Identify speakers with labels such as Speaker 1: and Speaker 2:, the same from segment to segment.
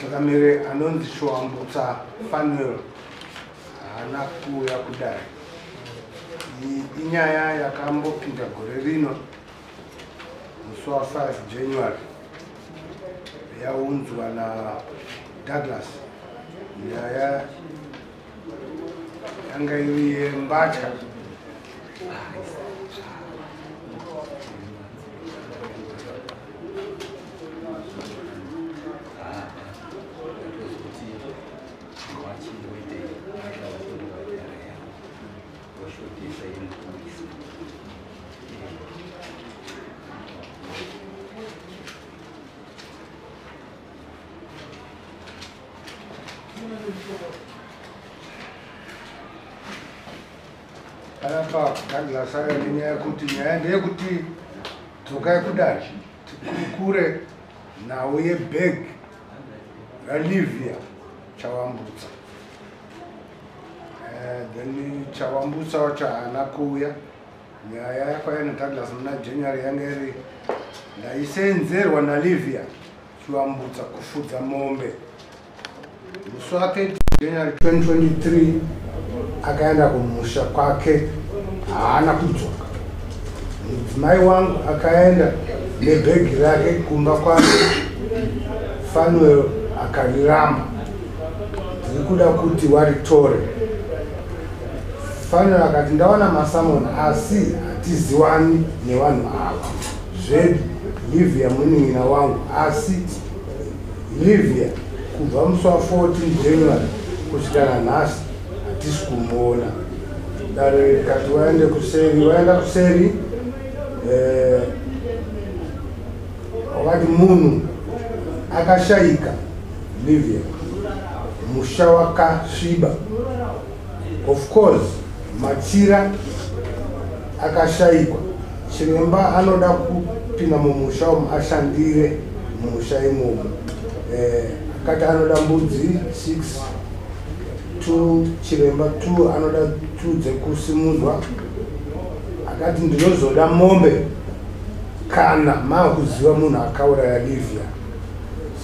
Speaker 1: Chakamere anonzi Showambutsa Fanuel haana kuuya kudai. Inyaya yakambopinda gore rino musi wa 5 January yaunzwa na Douglas nyaya yanga iri yembatya Anapa Douglas aya nenyaya yekuti nyaya ndeyekuti dzokai kudai tikurukure nhau yebheg ralivia chawambutsa Eh, then chawambutsa wacho haana kuuya nyaya yakwaya nadouglas muna january yanga iri ndaisenzerwa nalivia Chiwambutsa kufudza mombe. Musi wa 30 January 2023 akaenda kumusha kwake haana kudzoka. Mudzimai wangu akaenda nebhegi rake kumba kwake Fanuel akariramba. Ndiri kuda kuti waritore. Fanuel akati ndaona masamon asi hatiziwani nevanhu ava. Zvedi, Livia munin'ina wangu asi Livia kubva musi wa 14 January kusvika nanhasi hatisi kumuona. Dare rikati waende kuseri, waenda kuseri eh, wakati munhu akashaika Livia musha wakasviba Of course machira akashaikwa chiremba anoda kupinda mumusha umu ashandire mumusha imomo eh, akati anoda mbudzi six two chiremba two anoda two dzekusimudzwa akati ndinozoda mombe kana makuziva munhu akauraya livia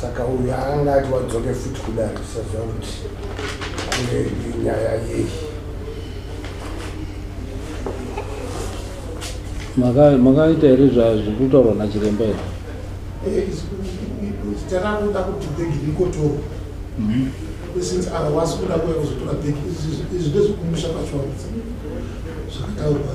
Speaker 1: saka uyu anga ati wadzoke futi kudari usaziva kuti ange nyaya yei
Speaker 2: makaita here zvekutaurwa nachiremba here eh,
Speaker 3: zita ravo kuda kuti bhegi rikotorwa mhm. since avawasi kuda kuya kuzotora bhegi izvi ndezvekumusha pachiwanisa zvakataurwa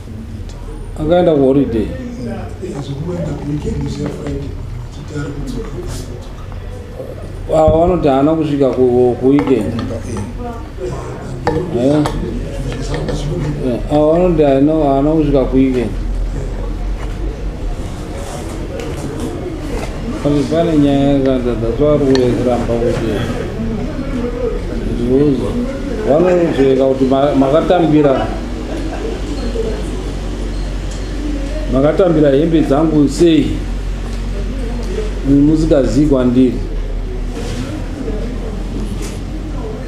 Speaker 2: akaenda kuholiday ava vanoti haana kusvika kuweekend ava vanoti haana kusvika kuweekend pane nyaya yakanza that's why rikuuya kuramba kuti zviuzo vanozveka kuti makatambira makatambira hembe dzangu sei musikazivi kwandiri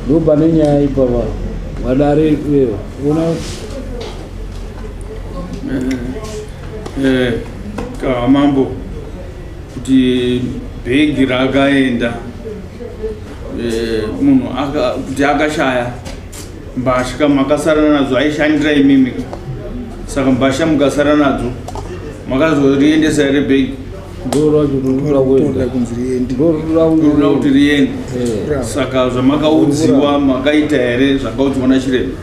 Speaker 2: ndopane nyaya ipapa vadare ona
Speaker 4: eh, kamambo kuti bhegi rakaenda eh, munhu kuti akashaya mbasha makasara nadzo aishandira imimi saka mbasha mukasara nadzo makazoriendesa here bhegi ndoda kuti riende eh. saka zvamakaudziwa makaita here zvakaudziwa nachiremba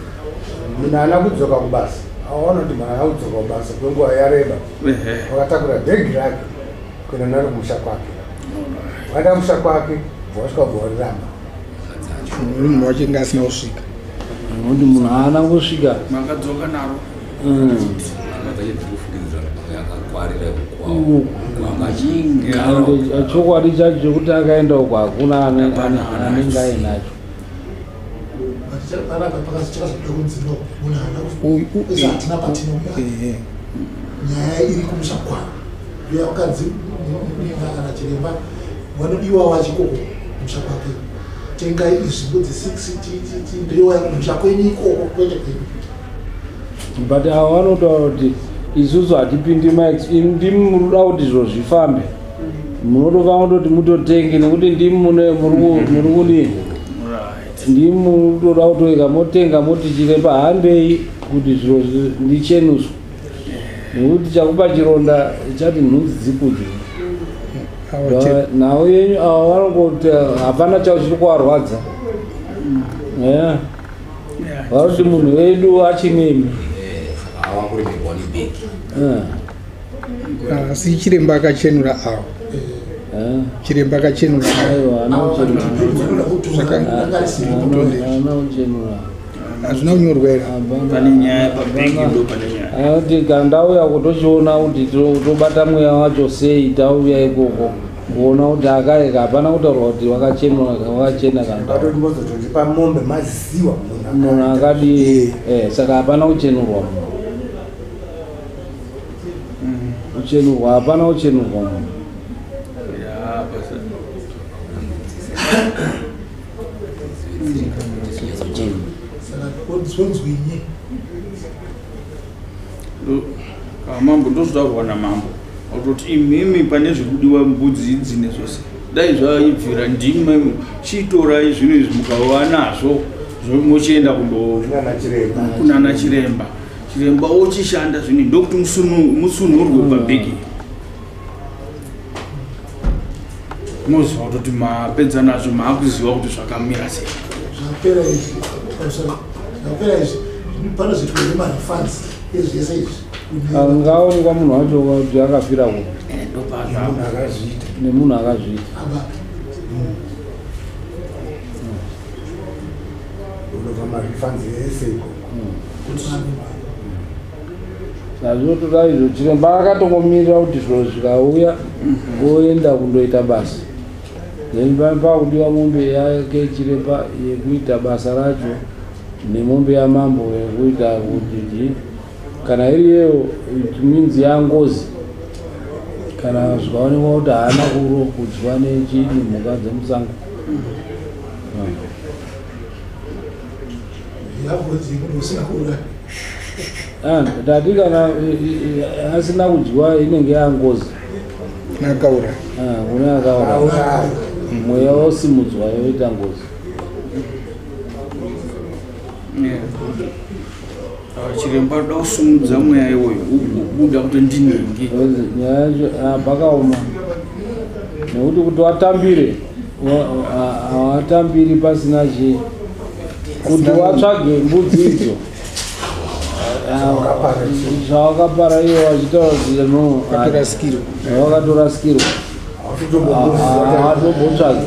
Speaker 4: munhu ana
Speaker 1: kudzoka kubasa aona kuti munhu ana kudzoka kubasa kwenguva yareba wakatakura bhegi rake kuenda naro kumusha kwake waenda kumusha kwake bvawasvika ubva wariramba
Speaker 5: munhu wacho inge asina kusvika kuti munhu
Speaker 2: aana kusvika
Speaker 4: makadzoka
Speaker 2: naro chokwadi chacho chekuti akaenda uko hakuna anenge ainacho
Speaker 3: nyaya iri kumusha kwavo uya vakadzi mimba kana chiremba vanodiwa vachikoko kumusha kwake tengai izvimbo dze6 ndiyoya kumusha kwenyu ikoko kwete kwenyu
Speaker 2: but avo vanotaura kuti isusu hatipindi max ndimi muruda kuti izvo zvifambe munotofanira kutoti mutotenge nekuti ndimi mune muri ku- muri kudii ndimi munotoda kutoika motenga motichire pahambei kuti zviro zvi- ndichenuswe nekuti chakupa chironda chati nhunzi dzikudye Awache- nhau yenyu ava vanongoti hapana chavo chiri kuvarwadza Yeah. vanoti munhu wedu achinemi Hawa kuri migoni big. Yeah.
Speaker 5: asi chiremba akachenura awo chiremba akachenura hazvina kunyorwa
Speaker 4: here anoti kandauya
Speaker 2: kutochiona kuti tobata mweya wacho sei tauya ikoko kuona kuti akaeka hapana kutaurwa kuti wakachenura wakachena
Speaker 1: kandamunhu akadii
Speaker 2: eh, saka hapana kuchenurwa munhu uchenurwa hapana uchenurwa munhu
Speaker 4: ah, mambo ndozvotaurwa namambo kuti imimi pane zvekudiwa mbudzi idzi nezvose dai zvaibvira ndimi chitorai zvinhu izvi mukava nazvo zvomochienda kundokunana chiremba chiremba wochishanda zvine ndokuti musunhurwe mm. pabheki moziva kutoti mapedza nazvo maakuziva kuti zvakamira sei zvapera izvi zvapera
Speaker 3: izvi panozoitwa nemarefans ezvese izvi angaonekwa
Speaker 2: munhu wacho kuti akafira ku eh, nemunhu akazviita unobva marefans ese iko zvazvotoda izvo chiremba akatongomirira kuti zviro zvikauya ngoenda kundoita basa then pane pakudiwa mombe yake chiremba yekuita basa racho nemombe yamambo yekuita kuti kana iri yeyo minzi yangozi kana zvikaonekwa kuti haana kuro kudyiwa nechii nemhuka dzemusango Ah, tati kana asina kudyiwa inenge yangozi nakaura
Speaker 5: ah, kune
Speaker 2: akaura mweya wosimudzwa yoita ngozi
Speaker 4: chiremba unoda kusimudza mweya iwoyo ugobuda kuti ndinenge nyaya yacho
Speaker 2: ah, pakaoma nekuti kuti watambire hawatambiri pasina chi kuti watsvage mbudzi idzo zvawakapara iwo wachitaura kuti no wakatorasikirwa hawatobotsvagi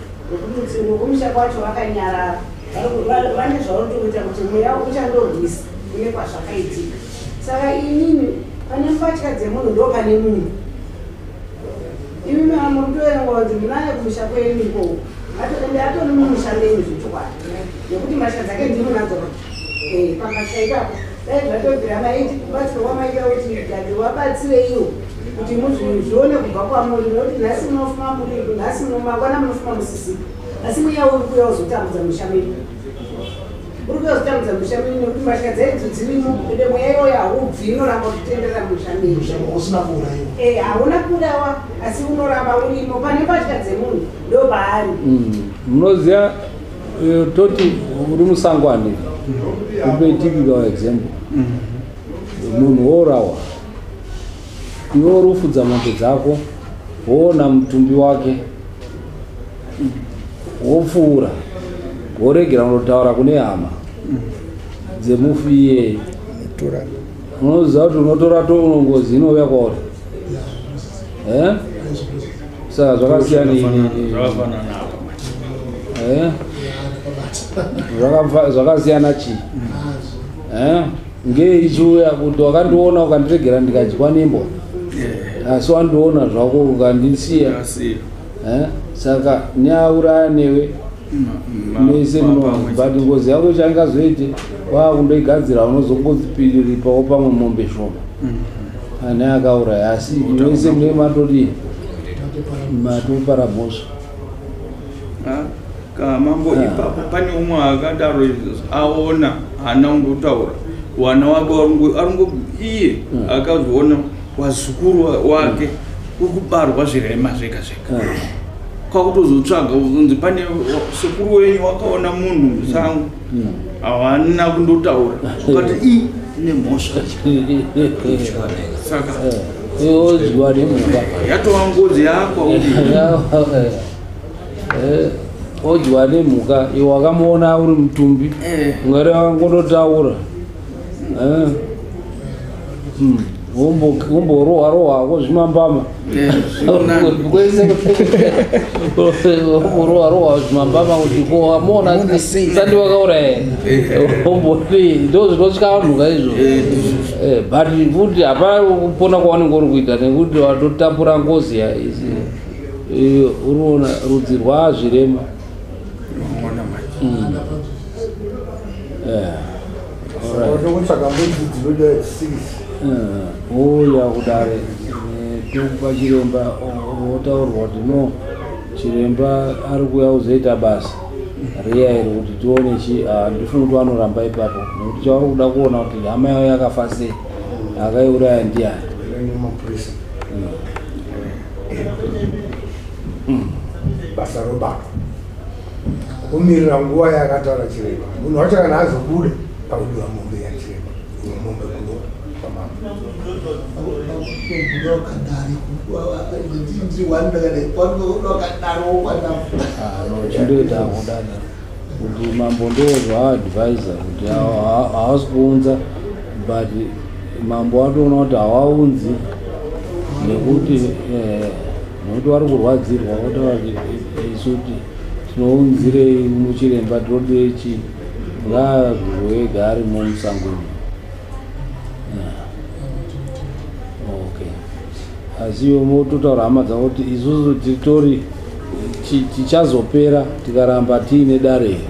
Speaker 6: Nekuti umwe kumusha kwacho vakanyarara vane zvaunotoita kuti mweya uchandorwisa kune kwazvakaitika saka inini pane mbatya dzemunhu ndo pane munhu imi mama mutoerenga kuti munaye kumusha kwenyu ikoko atone mumusha menyu zvechokwadi nekuti mbatya dzake ndiri nadzo Eh, pamasha ipapo dai zvatobvira maiti kubatsira wamaita kuti gade wabatsireiwo kuti muzvione kubva kwamuri nokuti nhasi munofuma muriku nhasi mangwana munofuma musisiku asi mweya uri kuya uzotambudza musha medu uri kuya uzotambudza musha medu nekuti mbatya dzaidzo dzirimo ende mweya iwoyo haubvi inoramba kutenderera musha medu
Speaker 3: eh, hauna kuurawa
Speaker 6: asi unoramba urimo pane mbatya dzemunhu ndopaari mm, munoziva
Speaker 2: Eh, toti uri musango ane upe typical example munhu wourawa iwe uri kufudza mombe dzako woona mutumbi wake wopfuura woregera unotaura kune hama dzemufi iyeye unoziva kuti unotora to unongozi inouya kwauri eh? saka zvakasiyana eh? zvakasiyana chii eh? ngei chiuya kuti wakandiona ukandiregera ndikadyiwa nembwa asi wandiona zvako ukandisiya saka nyauraya newe mese but ngozi yako changazoite kwakundoigadzira unozongozipiriripawo pamwe mombe shoma mm-hmm. ane akauraya asi mese mune matodii matopara mhosva
Speaker 4: kamambo ah. ipapo pane umwe akadaro aona hana ungotaura wana wake aringo iye hmm. akazoona wazukuru wake ukubarwa zvirema zvega zvega kwakutozotsvaga unzi pane sekuru wenyu wakaona munhu musango havana hmm. kundotaura ukati i ine mhosva saka yoziwa
Speaker 2: nemumba yatova ngozi
Speaker 4: yakwa
Speaker 2: odyiwa nemhuka iwe wakamuona uri mutumbi eh. ungari angototaura womborohwa rohwa wozvimambama womborohwa rohwa wozvimambama kuti ko wamona sandi wakauraya womboti ndo zvinotya vanhu ka izvo but futi hapana kupona kwawanenge uri kuita nekuti watotapura ngozi iyo uriona rudzi rwazvirema Unoona manje. Mm. Yeah. All right. Unoda kutsvaga mbudzi dzinoda six. Eh, ouya kudare eh, tokupa chiremba o- wotaurwa kuti no chiremba ari kuuya kuzoita basa riya iri kuti tione chi ah, ndifuna kuti vanoramba ipapo nekuti chavari kuda kuona kuti hama yavo yakafa sei akaiuraya ndiyani Unoenda mapurisa. Mm.
Speaker 1: Mm. basa robatwa kumirira nguva yakataura chiremba munhu wacho kana azobuda pakudiwa mombe yachiremba imwe mombe kuno pamamaaadaro
Speaker 2: kuti mambo ndoozvaadvisa kuti haasi kuunza but mambo watoona kuti hawaunzi nekuti eh, nokuti wari kurwadzirwa wotaura kuti eh, isu ti tinounzirei muchiremba tinodei chii ngaazviroega arimo musango asi iwe mototaura hama dzavo kuti isusu titori tichazopera tikaramba tiine dare here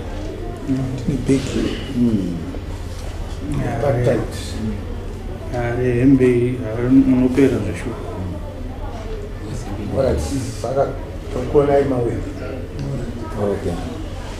Speaker 4: ari hembe munopera
Speaker 1: zveshuwa Okay.